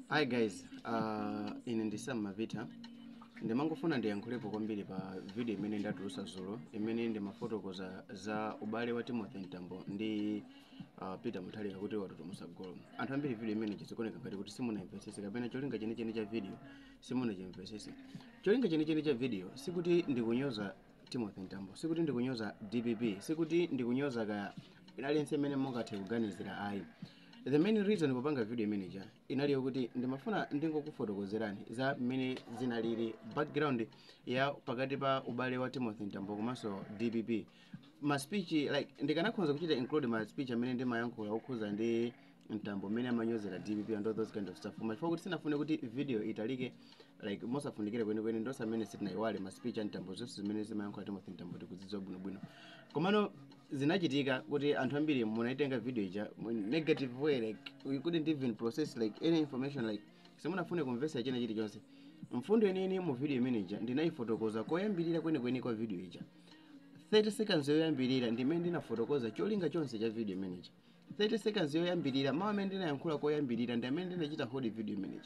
hi guys uh, ine ndi sam malvitha ndimangofuna ndiyankhulepo kwambiri pa video imene ndatulusa zulo imene ndimafotokoza za ubale wa timothy mtambo ndi uh, peter mutharika kuti watutumusa golo anthu ambiri video imeneija zikuoneka ngati kuti simunayimvesese kapena cholinga chenicheni cha video simunachimvesese cholinga chenicheni cha video sikuti ndikunyoza timothy mtambo sikuti ndikunyoza dpp sikuti ndikunyoza ka aliyense imene mungathe kuganizira ayi the main reason popanga video imeneja inali yokuti ndimafuna ndingokufotokozerani za mmene zinalili background ya pakati pa ubale wa timothy mtambo komanso dpp ma speech like ndikanakhonza kuchita include ma speech amene ndimayankhula okhuza ndi mtambo mmene amanyozera dpp and all those kind of stuff koma chifukwa kuti sinafune kuti video italike like mosafunikira kwenikweni ndi tonse amene sitinayiwale ma speech a mtambo zonse zimene amayankhula timothy mtambo tikuzidziwa bwinobwino komano zinachitika kuti anthu ambiri munaitenga video ija mu negative way like you couldn't even process like any information like simunafune kumvesa china chilichonse mfundo yeniyeni mu video imene ija ndinayifotokoza koyambirira kwenikweni kwa video ija 30 seconds yoyambirira ndimene ndinafotokoza cholinga chonse cha video imene ija 30 seconds yoyambirira mawu amene ndinayankhula koyambirira ndi amene anachita hold video imeneyi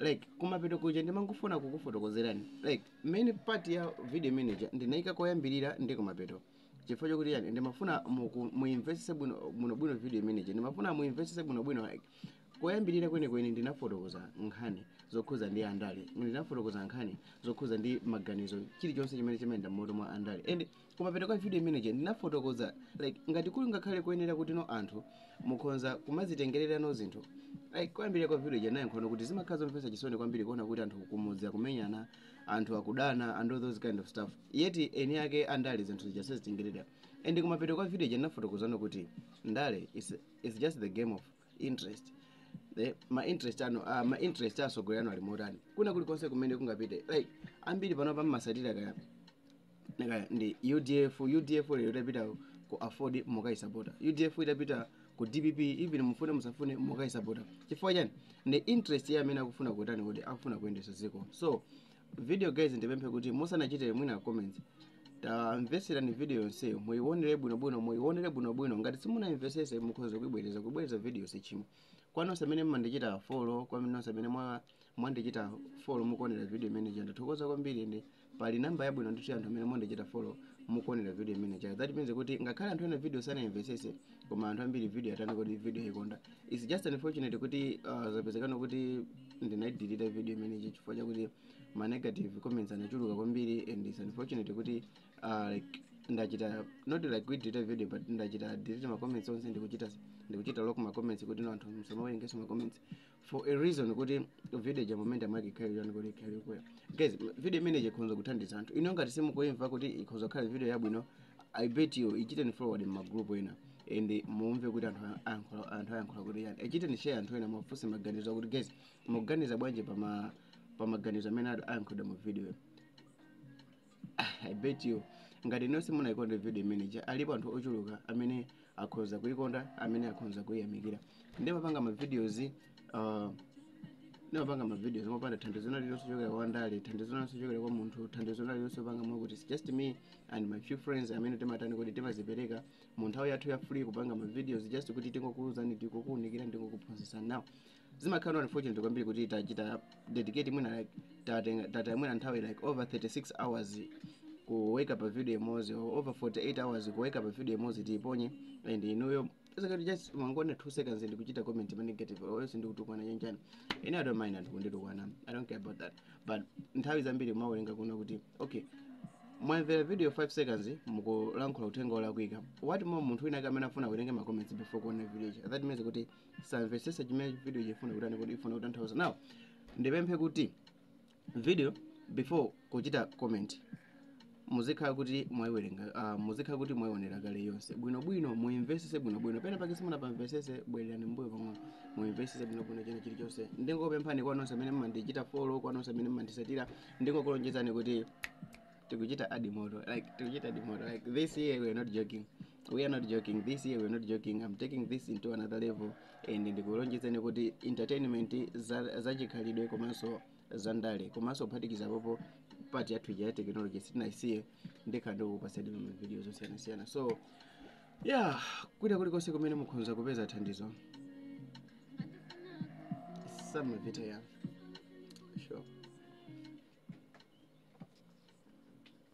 like kumapeto kuja ndimangofuna kukufotokozerani like main part ya video imeneija ndinayika koyambirira ndi kumapeto chifukwa chokuti yani ndimafuna muku- muimvetsese bwino bwino bwino video imeneija ndimafuna muimvetsese bwino bwino like koyambirira kwenikweni ndinafotokoza nkhani zokhuza ndi andale ndinafotokoza nkhani zokhuza ndi maganizo chilichonse chimene chimayenda m'mutu mwa andale and kumapeto kwa video imeneja ndinafotokoza like ngati kuli ngakhale kuyenera kuti no anthu mukhonza kumazitengererano zinthu like koyambirira kwa video ija nayankhulano kuti zimakhala zomvetsa chisoni kwambiri kuona kuti anthu kumudzi akumenyana anthu akudana and all those kind of stuff yet eni ake andale zinthu zija sazitengerera and kumapeto kwa video ija ndinafotokozano kuti ndale is, is just the game of interest the ma interest ano uh, ma interest a atsogoleri anu ali motani kuna kulikonse kumene angapite like ambiri pano mmasatira kaya kaya ndi udf udf lero itapita ku aford mukaisapota udf itapita ku dpp even mufune musafune mukaisapota chifukwa chani ndi interest ya amene akufuna kutani kuti akufuna kuyendesa dziko so video guys ndipemphe kuti musanachite mwina comment tamvetserani video yonseyo muiwonere bwinobwino muiwonere bwinobwino ngati simunayimvesese mukhoza kuibwereza kubwereza video sichimo kwa nonse amene mmandichita follow kwa nonse amene mwa- mwandichita follow mukuonera video imeneija ndathokoza kwambiri ndi pali namba yabwino ndithu ya anthu amene mwandichita follow mukuonera video imeneija that means kuti ngakhale anthu ena video sanayimvesese koma anthu ambiri video yatani kodi video ayikonda its just unfortunate kuti uh, zapezekano kuti ndinaidelete video imeneyi chifukwa chakuti ma negative comments anachuluka kwambiri and its unfortunate kuti uh, like ndachita not like kudelete video but ndachita delete ma comments onse ndikuchita ndikuchita lock ma comments kuti no anthu musamawerengenso ma comments for a reason kuti video ja momentum yake ikhale yani kuti ikhale yokwera guys m- video imeneyi ikhonza kuthandiza anthu inuyo ngati simukuimva kuti ikhonza kukhala video yabwino i bet you ichiteni forward mmagrupu ena and mumve kuti anthu a- ayankhula- anthu ayankhula kuti yani ichiteni share anthu ena muwafunse maganizo akuti guys mukuganiza bwanji pa ma- pa maganizo amene ayankhulidwa mu video i bet you ngati nonse simunayikonde video imeneyi alipo anthu ochuluka amene akhoza kuyikonda amene akhoza kuyiyamikira ndimapanga mavideos uh, ndimapanga mavideos mopanda thandizo lina lililonse lochokera kwa ndale thandizo lina lililonse lochokera kwa munthu thandizo lina lililonse panga mwakuti it's just me and my few friends amene timatani kuti timazipereka mu nthawi yathu ya free kupanga mavideos just kuti tingokuuzani ndikukuunikira ndikukuphunzitsa now zimakhala no unfortunate kwambiri kuti tachita dedicate mwina like tatenga- tataya mwina nthawi like over 36 hours kuweka pa video imodzi or over 48 hours kuweka pa video imodzi tiiponye and inuyo basically just mwangoona 2 seconds ndi kuchita comment ma negative or else ndi kutukwana chanchani ine i don't mind anthu kunditukwana i don't care about that but nthawi zambiri mawerenga kuona kuti okay mwamvera video 5 seconds mukulankhula uthenga olakwika what more munthu wina amene afuna kuwerenga ma comments before kuona video it- that means kuti samvetsetsa chimene video chifuna kutani kodi ifuna kutanthauza now ndipemphe kuti video before kuchita comment muzikhala kuti mwayiwerenga uh, muzikhala kuti mwayionera kale yonse bwinobwino muimvesese bwinobwino pena pake simunapamvesese bwererani mbuyo pang'ono muimvesese bwinobwino china chilichonse ndingopemphani kwa nonse amene mmandichita follow kwa nonse amene mmandisatira ndingokulonjezani kuti tikuchita adi moto like tikuchita adi moto like this year we are not joking we are not joking this year we are not joking i'm taking this into another level and ndikulonjezani kuti entertainment za- zachikhalidwe komanso zandale komanso kuphatikiza pompo part yathu ija ya technology sitinaisiye ndikhala ndikukupatsani ma videos osiyanasiyana so ya kwina kulikonse kumene mukhonza kupeza thandizo samapita ya sure